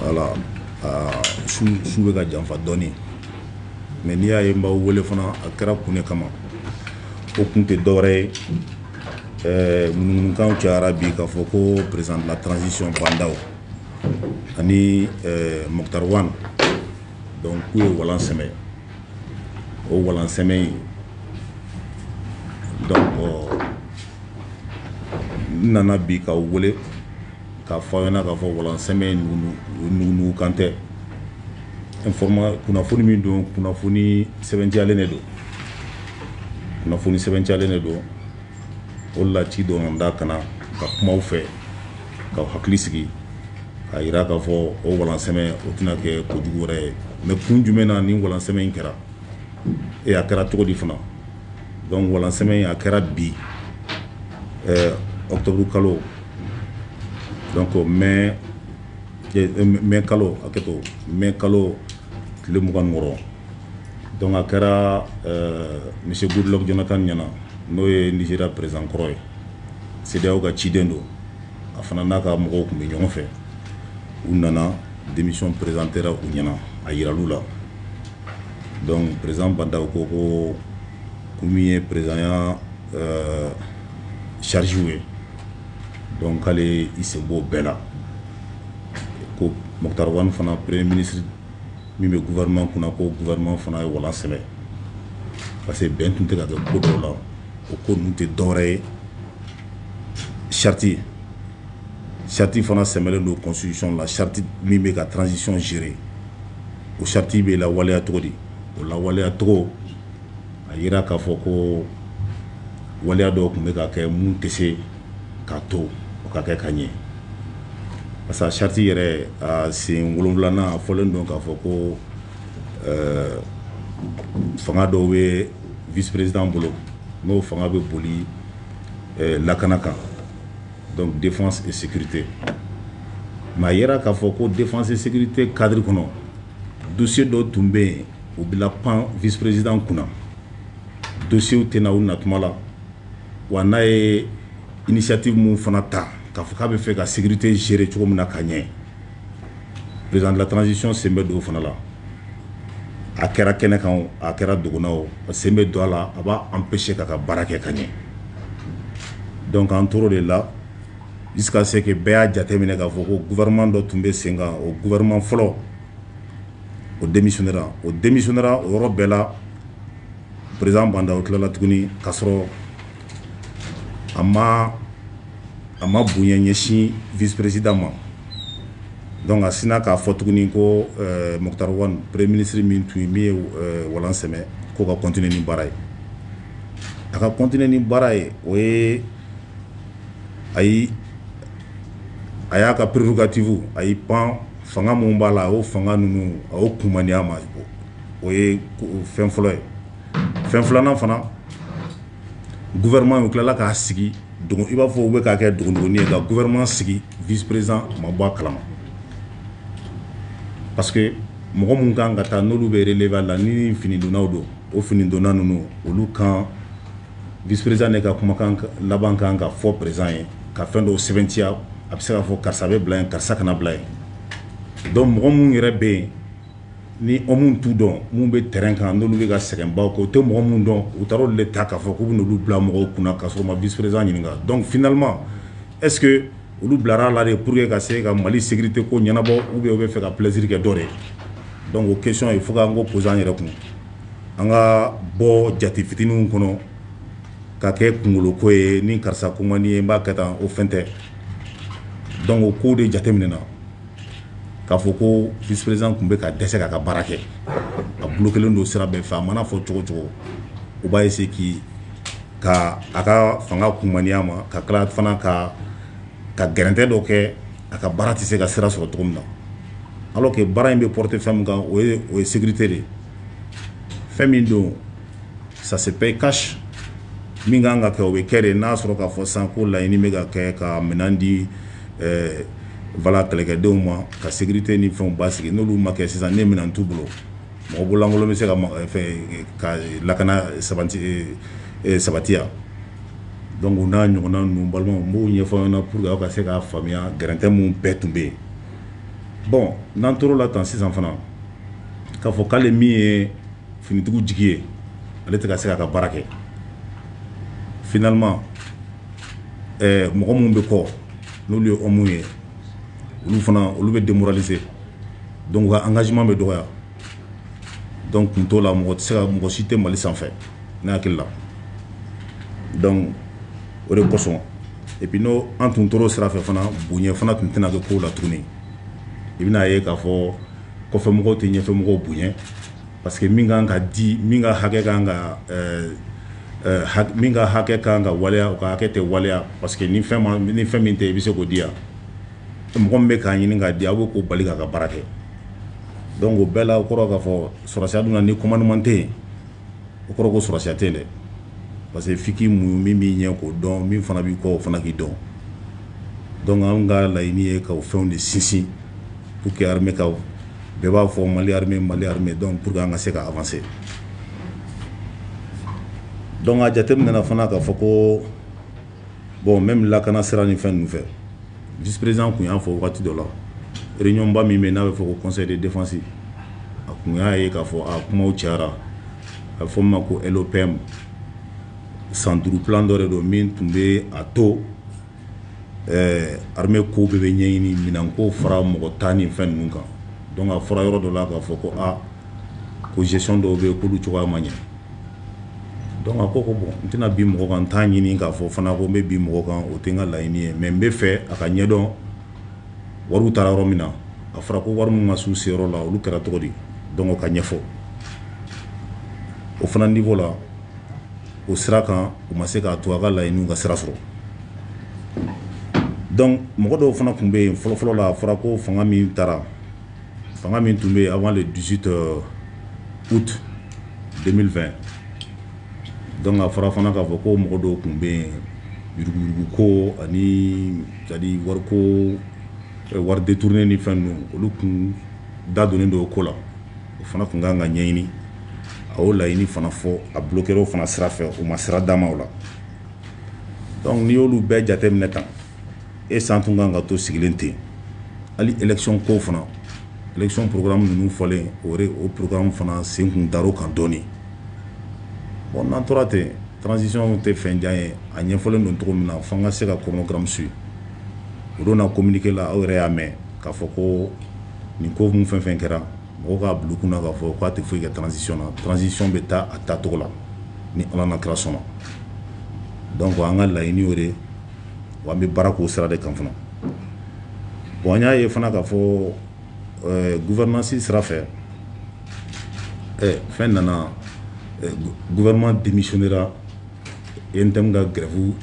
voilà su bɛ ka janfa dɔɔni mais n'i y'a ye n b'aw wele fana a kɛra kun de kama o kun tɛ dɔwɛrɛ ye eh, ŋunuŋunukanw cayara bi k'a fɔ ko président de la transition Bah N'Daw ani eh, Moctar Ouane donc k'u ye walan sɛmɛ o walan sɛmɛ in donc n nana bi k'aw wele k'a fɔ aw ɲɛna k'a fɔ walansɛmɛ in ŋunuŋunukan tɛ kunnafoni min don kunnafoni sɛbɛntiyalen de don kunnafoni sɛbɛntiyalen de don o la ci dɔn da kana ka kumaw fɛ k'aw hakili sigi k'a jira k'a fɔ o walansɛmɛ o tɛna kɛ kojugu wɛrɛ ye mais kun jumɛn na ni walansɛmɛ in kɛra eh a kɛra cogo di fana donc walansɛmɛ in a kɛra bi ɛɛ octobre kalo donc mai mai kalo hakɛto mai kalo tile mugan ni wɔɔrɔ donc a kɛra ɛɛ monsieur Goodluck Jonathan ɲɛna n'o ye Nigeria président kɔrɔ ye CEDEAO ka ciden don a fana n'a ka mɔgɔw tun bɛ ɲɔgɔn fɛ u nana démission présentera u ɲɛna a yiral'u la Donc président Bah N'Daw ko ko ko min ye président ya euh, charge ye donc k'ale i sen b'o bɛɛ la ko Moctar Ouane fana premier ministre min bɛ gouvernement kunna ko gouvernement fana ye walan sɛmɛ parce que bɛn tun tɛ ka kɛ ko dɔw la o ko ninnu tɛ dɔwɛrɛ ye charte ye Charte fana sɛmɛlen don constitution la charte min bɛ ka transition gérer o charte bɛ lawaleya cogo di? o lawaleya cogo a jira k'a fɔ ko waleya dɔw tun bɛ ka kɛ minnu tɛ se k'a to o ka kɛ ka ɲɛ parce que charte yɛrɛ a sen wolonwulanan a fɔlen don k'a fɔ ko ɛɛ fanga dɔw bɛ vice-président bolo n'o fanga bɛ boli lakana kan dɔnku defa sete nka a yɛrɛ k'a fɔ ko defa se tɛ kari kɔnɔ dosi dɔ tun bɛ yen u bila pan vperesiz kunna dosiw tɛna u na kuma la wa n'a ye misati minnu fana ta ka fɔ k'a bɛ fɛ ka sete seere cogo min na ka ɲɛ président de la transition sen bɛ don o fana la a kɛra kɛnɛ kan o a kɛra dogo na o a sen bɛ don a la a b'a empêcher k'a ka baara kɛ ka ɲɛ donc an tor'o de la jusqu'à ce que bɛɛ y'a jateminɛ k'a fɔ ko gouvernement dɔ tun bɛ sen kan o gouvernement fɔlɔ o démissionnera o démissionnera o yɔrɔ bɛɛ la président Bah N'Daw tilala tuguni ka sɔrɔ a ma a ma bonya ɲɛsin vice-président ma donc a sinna k'a fɔ tuguni ko Moctar Ouane premier ministre min tun ye min ye walan sɛmɛ k'o ka continuer ni baara ye a ka continuer ni baara ye o ye a y'i a y'a ka prérogative a y'i pan fanga minnu b'a la o fanga ninnu a y'o kumaniya ma o ye fɛn fɔlɔ ye fɛn filanan fana gouvernement tilala k'a sigi i b'a fɔ u bɛ k'a kɛ dogodogonin ye ka gouvernement sigi vice-président ma bɔ a kala ma parce que mɔgɔ minnu kan ka taa n'olu bɛ b'a la ni finidonnaw don o finidonna ninnu olu kan vice-président de ka kumakan laban kan ka fɔ président ye ka fɛn dɔ sɛbɛntiya a bɛ se k'a fɔ karisa bɛ bila yen karisa kana bila yen donc mɔgɔ minnu yɛrɛ bɛ yen ni minnu t'u dɔn minnu bɛ terrain kan n'olu bɛ ka sɛgɛnbaw kɛ u tɛ mɔgɔ minnu dɔn u taara olu de ta k'a fɔ k'u bɛ olu bila mɔgɔw kunna k'a sɔrɔ u ma vice-président ɲininka donc finalement est-ce que olu bilara la de pour que ka se ka mali sécurité ko ɲɛnabɔ ou bien u b'a fɛ ka plaisir kɛ dɔ de donc o question il faut k'an k'o poser an yɛrɛ kun an ka bɔ jate fitininw kɔnɔ ka kɛ kunkolo ko ye ni karisa ko man di n ye n b'a kɛ tan o fɛn tɛ donc o ko de jateminɛna k'a fɔ ko vice-président tun bɛ ka dɛsɛ k'a ka baara kɛ a bloquélen don sira bɛɛ fɛ a mana fɔ cogo cogo u b'a essayer k'i ka a ka fanga kunmaniya ma ka tila fana ka ka gɛrɛntɛ dɔ kɛ a ka baara tɛ se ka sira sɔrɔ cogo min na alors que baara in bɛ porter fɛn min kan o o ye sécurité de fɛn min don ça se paye cash min kan ka kɛ o bɛ kɛ de n'a sɔrɔ k'a fɔ sisan ko laɲini bɛ ka kɛ ka minɛn di eh, voilà kɛlɛkɛdenw ma ka sécurité ni fɛnw basigi n'olu ma kɛ sisan ni minɛn t'u bolo mɔgɔ bololankolon bɛ se ka eh, eh, ka lakana sabati sabatiya donc o n'a ɲɔgɔnna ninnu balimaw n b'o ɲɛfɔ aw ɲɛna pour que aw ka se k'a faamuya gɛrɛntɛ minnu bɛɛ tun bɛ yen bon n'an tor'o la tan sisan fana k'a fɔ k'ale min ye finitigiw jigi ye ale tɛ ka se k'a ka baara kɛ finalement mɔgɔ minnu bɛ kɔ n'olu ye hommes ye olu fana olu bɛ démoraliser donc u ka engagement bɛ dɔgɔya donc kun t'o la mɔgɔ tɛ se ka mɔgɔ si tɛ mali sanfɛ ne hakili la donc o de kosɔn et puis n'o an tun tor'o sira fɛ fana bonya fana tun tɛna kɛ kow la tuguni i bɛna'a ye k'a fɔ kɔfɛmɔgɔw tɛ ɲɛfɛmɔgɔw bonya Parce que min kan ka di min ka hakɛ ka min ka hakɛ ka kan ka waleya o ka hakɛ tɛ waleya parce que ni fɛn min tɛ i bɛ se k'o di yan mɔgɔ min bɛ k'a ɲini k'a di a bɛ k'o bali k'a ka baara kɛ donc o bɛɛ la o kɔrɔ k'a fɔ sɔrɔdasiya dun na ni commandement tɛ yen o kɔrɔ ko sɔrɔdasiya tɛ dɛ parce que f'i k'i muɲu min b'i ɲɛ k'o dɔn min fana b'i kɔ o fana k'i dɔn donc an ka laɲini ye k'o fɛnw de sinsin pour que armée ka bɛɛ b'a fɔ mali armée mali armée donc pour que an ka se ka avancer donc a jateminɛna fana k'a fɔ ko bon même lakana sira ni fɛn ninnu fɛ vice-président tun y'a fɔ waati dɔ la réunion ba min bɛ n'a bɛ fɔ ko conseil de défense a tun y'a ye k'a fɔ a kuma cayara a bɛ fɔ min ma ko LOPM san duuru plan dɔ de don min tun bɛ a to Ɛɛ armée ko bɛɛ bɛ ɲɛɲini minɛnko fara mɔgɔ ta ni fɛn ninnu kan donc a fɔra yɔrɔ dɔ la k'a fɔ ko aa ko gestion dɔw bɛ yen k'olu cogoya ma ɲɛ donc a ko ko bon n tɛna bin mɔgɔ kan n t'a ɲini k'a fɔ fana ko n bɛ bin mɔgɔ kan o tɛ n ka laɲini ye mais n bɛ fɛ a ka ɲɛdɔn wariw taara yɔrɔ min na a fɔra ko wari minnu ma s'u seyɔrɔ la olu kɛra cogo di donc o ka ɲɛfɔ o fana niveau la o sira kan u ma se k'a to a ka laɲiniw ka sira sɔrɔ donc mɔgɔ dɔw fana tun bɛ yen fɔlɔfɔlɔ la a fɔra ko fanga min taara fanga min tun bɛ yen avant le dix-huit août deux mille vingt donc a fɔra fana k'a fɔ ko mɔgɔ dɔw tun bɛ yen yuruguyuruguko ani c'est-à-dire wariko wari détourné ni fɛn ninnu olu tun da donnen don o ko la o fana tun kan ka ɲɛɲini a y'o laɲini fana fɔ a bloqué o fana sira fɛ o ma sira d'a ma o la donc n'i y'olu bɛɛ jateminɛ tan est-ce an tun kan ka to sigilen ten hali élection ko fana élection programme minnu fɔlen o o programme fana sen kun da kan dɔɔnin bon n'an tora ten transition tɛ fɛn jan ye a ɲɛfɔlen don cogo min na fo an ka se ka chronogramme suivre o de na communiqué la aw yɛrɛ y'a mɛn k'a fɔ ko nin ko min fɛn fɛn kɛra mɔgɔw k'a bila u kunna k'a fɔ k'a tɛ foyi kɛ transition na transition bɛ taa a taacogo la ni ala n'a kira sɔnna donc an ka laɲini o de wa an bɛ baara k'o sira de kan fana bon an y'a ye fana k'a fɔ gouvernance sira fɛ fɛn nana gouvernement démissionnéra e tɛ ka gɛrɛbu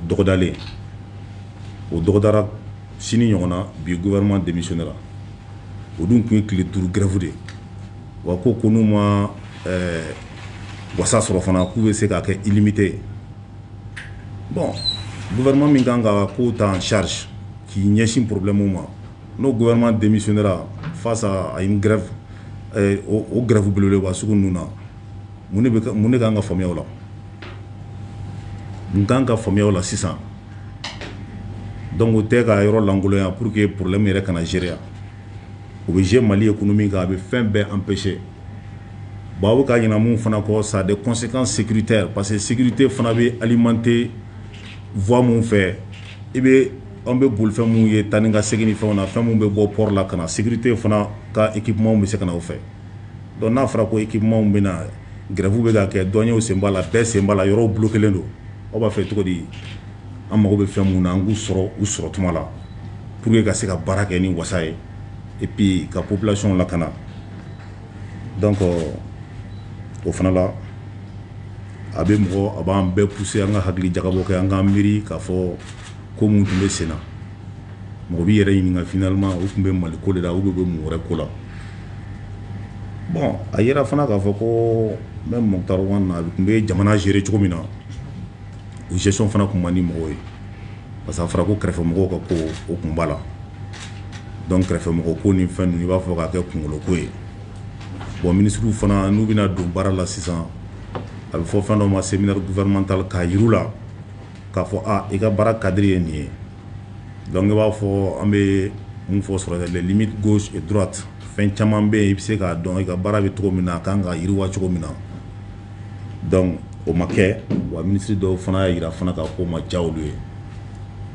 dɔgɔdalen o dɔgɔdara sini ɲɔgɔn na bi guma denmisɛn ne la o dun tun ye tile duuru gɛrɛfu de wa ko ko n'u ma wasa sɔrɔ fana k'u bɛ se k'a kɛ imite ye bɔn guma min kan ka ko ta sari k'i ɲɛsin porobimu ma n'o gma denmisɛn ne fa a ye gɛrɛ o gɛrɛfu bolo wa sugu ninnu na mun de kan ka faamuya o la mun kan ka faamuya o la sisan donc o tɛ ka yɔrɔ lankolonya pour que problème yɛrɛ kana gérer wa o bɛ jouer mali économie kan a bɛ fɛn bɛɛ empêcher bon aw bɛ ka ɲinɛ min fana kɔ ça a des conséquences sécuritaires parce que sécurité fana bɛ alimenter voie minnu fɛ i bɛ an bɛ bolifɛn minnu ye taa ni ka segin fɛn na fɛn minnu bɛ bɔ port la ka na sécurité fana ka équipementw bɛ se ka na o fɛ Donc n'a fɔra ko équipementw bɛ na grève bɛ ka kɛ douaniers sen b'a la bɛɛ sen b'a la yɔrɔw bloquélen don aw b'a fɛ cogo di an mago bɛ fɛn min na an k'u sɔrɔ u sɔrɔ tuma la pour que ka se ka baara kɛ ni wasa ye et puis ka population lakana donc o fana la a bɛ mɔgɔ a b'an bɛɛ pousser an ka hakili jagabɔ kɛ an k'an miiri k'a fɔ ko minnu tun bɛ sen na mɔgɔ b'i yɛrɛ ɲininka finalement u tun bɛ mali ko de la ou bien u bɛ mɔgɔ wɛrɛ ko la a yera fana k'a fɔ ko même Moctar Ouane a tun bɛ jamana gérer cogo min na o gestion fana tun man di mɔgɔw ye parce que a fɔra ko kɛrɛfɛ mɔgɔw ka ko o tun b'a la donc kɛrɛfɛ mɔgɔ ko ni fɛn i b'a fɔ k'a kɛ kunkolo ko ye bon minisiriw fana n'u bɛna don baara la sisan a bɛ fɔ fɛn dɔ ma séminaire gouvernemental k'a jir'u la k'a fɔ i ka baara cadre ye nin ye donc i b'a fɔ an bɛ min fɔ sɔrɔdasi les limites gauche et droite fɛn caman bɛ yen i bɛ se k'a dɔn i ka baara bɛ cogo min na a kan ka yiriwa cogo min na donc o ma kɛ wa ministre dɔw fana y'a jira fana ko o ma diya olu ye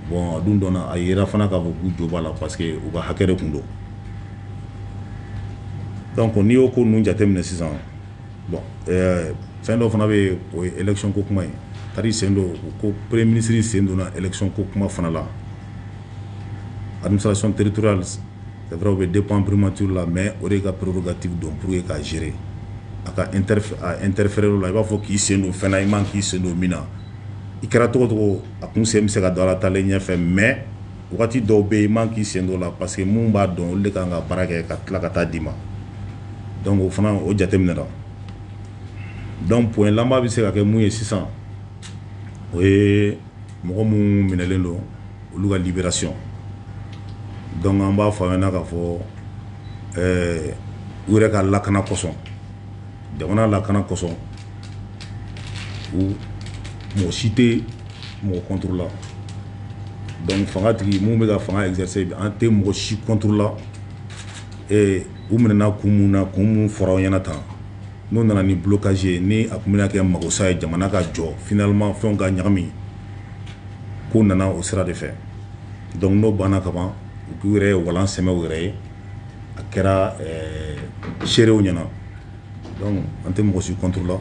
bon a dun dɔnna a jira fana k'a fɔ k'u jo b'a la parce que u ka hakɛ de tun don donc n'i y'o ko ninnu jateminɛ sisan bɔn fɛn dɔ fana bɛ yen o ye ekion ko kuma ye ka sen don u ko pere minisiriri sen donna ekion ko kuma fana la alimisacon teriuruya daw bɛ den pan perepmatiuru la mɛ o de ka porougkati don pur ye k'a zeere a ka n terirefɛɛrɛ la i b'a fɔ k'i sen don fɛn i ma k'i sen don min na i kɛra tɔgɔ tɔgɔ a tun sen bɛ se ka dala talen ɲɛfɛ mɛ Wagati dɔw bɛ yen i man k'i sen don o la parce que minnu b'a dɔn olu de kan ka baara kɛ ka tila ka taa d'i ma donc o fana o jateminɛra donc point laban bɛ se ka kɛ mun ye sisan o ye mɔgɔ minnu minɛlen don olu ka libération donc an b'a fɔ a ɲɛna k'a fɔ ɛɛ u yɛrɛ ka lakana kosɔn jamana lakana kosɔn mɔgɔ si tɛ mɔgɔ contre la donc fanga tigi minnu bɛ ka fanga exercer an tɛ mɔgɔ si contre la u minɛna kun min na kun min fɔra aw ɲɛna tan n'o nana ni blocage ye ni a tun bɛna kɛ magosa ye jamana ka jɔ finalement fɛnw ka ɲagami ko nana o sira de fɛ donc n'o banna kaban k'u yɛrɛ ye walan sɛmɛ u yɛrɛ ye a kɛra seerew ɲɛna an tɛ mɔgɔsi kɔnla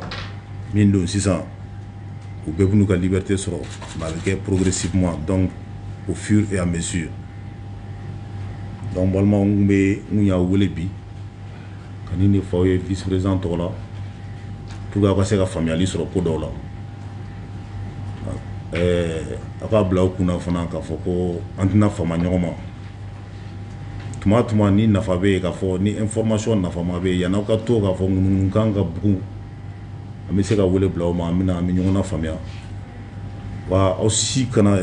min don sisan u bɛɛ b'u ka libite sɔrɔ bɛ kɛ poroprisi kuma dɔn o fi an bɛ su ye dɔn balima bɛ n y'a wele bi ka de faw ye vperez tɔgɔ la p walasaur ka se ka faamuyayali sɔrɔ ko dɔw la ɛɛ a k'a bila u kun fana k'a fɔ ko an tɛna fa ɲɔgɔn ma tuma tuma ni nafa bɛ yen k'a fɔ ni information nafama bɛ yen yani aw ka to k'a fɔ ŋunuŋunukan ka bugun an bɛ se ka wele bila aw ma an bɛ an bɛ ɲɔgɔn faamuya wa aw si kana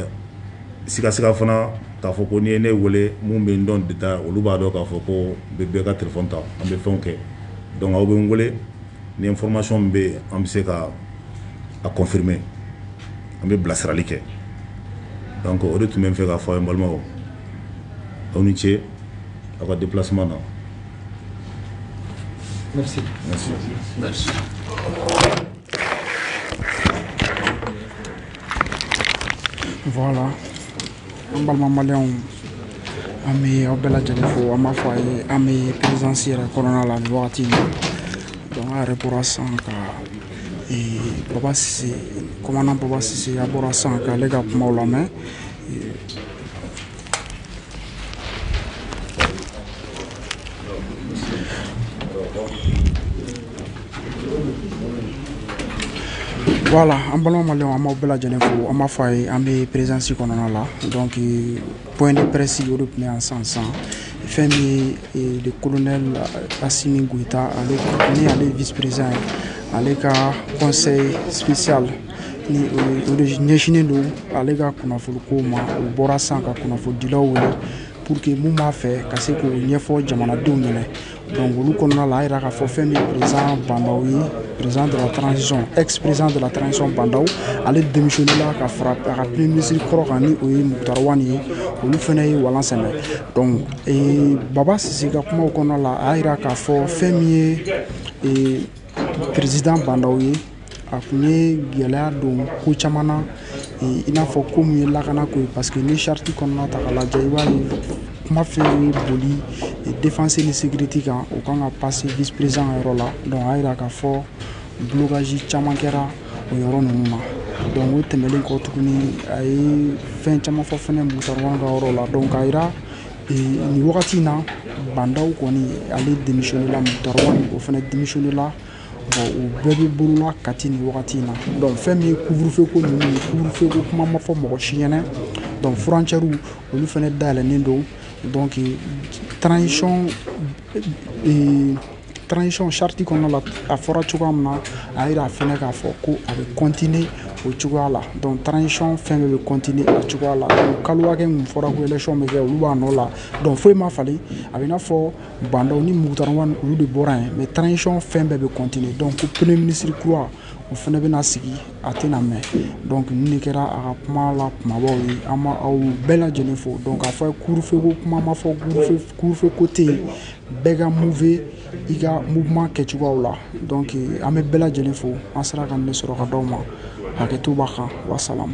sigasiga fana k'a fɔ ko n'i ye ne weele minnu bɛ n dɔn détail olu b'a dɔn k'a fɔ ko n bɛ bɛɛ ka téléphone ta an bɛ fɛnw kɛ donc aw bɛ n weele ni information bɛ yen an bɛ se ka a confirmer an bɛ bilasirali kɛ o de tun bɛ n fɛ k'a fɔ aw ye balimaw aw ni ce aw ka déplacement na Merci. Merci. Merci. Voilà. An balima maliyɛnw an bɛ aw bɛɛ lajɛlen fo an b'a fɔ a ye an bɛ présidence yɛrɛ kɔnɔna la nin wagati in na donc an yɛrɛ bɔra sisan ka baba sise commandant baba sise a bɔra sisan k'ale ka kumaw lamɛn Wala an balima ma an ma bɛɛ lajɛlen fo an ma fɔ a ye an bɛ perezsi kɔnɔna la dɔn p ni pɛresi o de tun yan san san fɛn min ye de kolon la asi gta ale ni ale vperez ye ale ka kɔnɛ siya la ni o de ɲɛsinnen don ale ka kunnafoni ko ma o bɔra sisan ka kunnafonidilaw wele pour que min b'a fɛ ka se k'o ɲɛfɔ jamanadenw ɲɛna donc olu kɔnɔna la a y'a yira k'a fɔ fɛn min président bandaw ye président de la transition ex président de la transition bandaw ale démissionné la ka fara a ka premier ministre kɔrɔ kan ni o ye mukutari wani ye olu fana ye walan sɛmɛ donc ee, baba sise ka kumaw kɔnɔna la a y'a yira k'a fɔ fɛn min ye ee, président bandaw ye a kun ye gɛlɛya don ko caman na i n'a fɔ ko min ye lakana ko ye parce que ni charte kɔnɔna ta k'a lajɛ i b'a ye kuma fɛn ye boli défense ni sécurité kan o kan ka passer vice-président ka yɔrɔ la donc a jira k'a fɔ blocage caman kɛra o yɔrɔ ninnu na donc o tɛmɛnlen kɔ tuguni a ye fɛn caman fɔ fana Mukutari Wani ka yɔrɔ la donc a jira nin wagati in na Bandaw kɔni ale démissionné la Mukutari Wani o fana démissionné la bon u bɛɛ bɛ bolola Kati nin wagati in na donc fɛn min ye couvre-feu ko ninnu ye couvre-feu ko kuma ma fɔ mɔgɔ si ɲɛna donc frontières olu fana dayɛlɛnnen don donc transition euh, transition charte kɔnɔna la a fɔra cogoya min na a yira fɛnɛ k'a fɔ ko a bɛ continuer o cogoya la donc transition fɛn bɛɛ bɛ continuer a cogoya la donc kalo hakɛ min fɔra ko élection bɛ kɛ olu b'a nɔ la donc foyi ma falen a bɛ i n'a fɔ Bandaw ni Mukutari olu de bɔra yen mais transition fɛn bɛɛ bɛ continuer donc ko premier ministre kura o fana bɛna sigi a tɛna mɛn donc nin de kɛra a ka kuma la kumabaw ye an b'aw bɛɛ lajɛlen fo donc a fɔ couvre-feu ko kuma ma fɔ couvre-feu ko tɛ yen bɛɛ ka move i ka mouvement kɛ cogoyaw la donc an bɛ bɛɛ lajɛlen fo an sera ka nin de sɔrɔ ka d'aw ma hakɛto b'a kan wasalam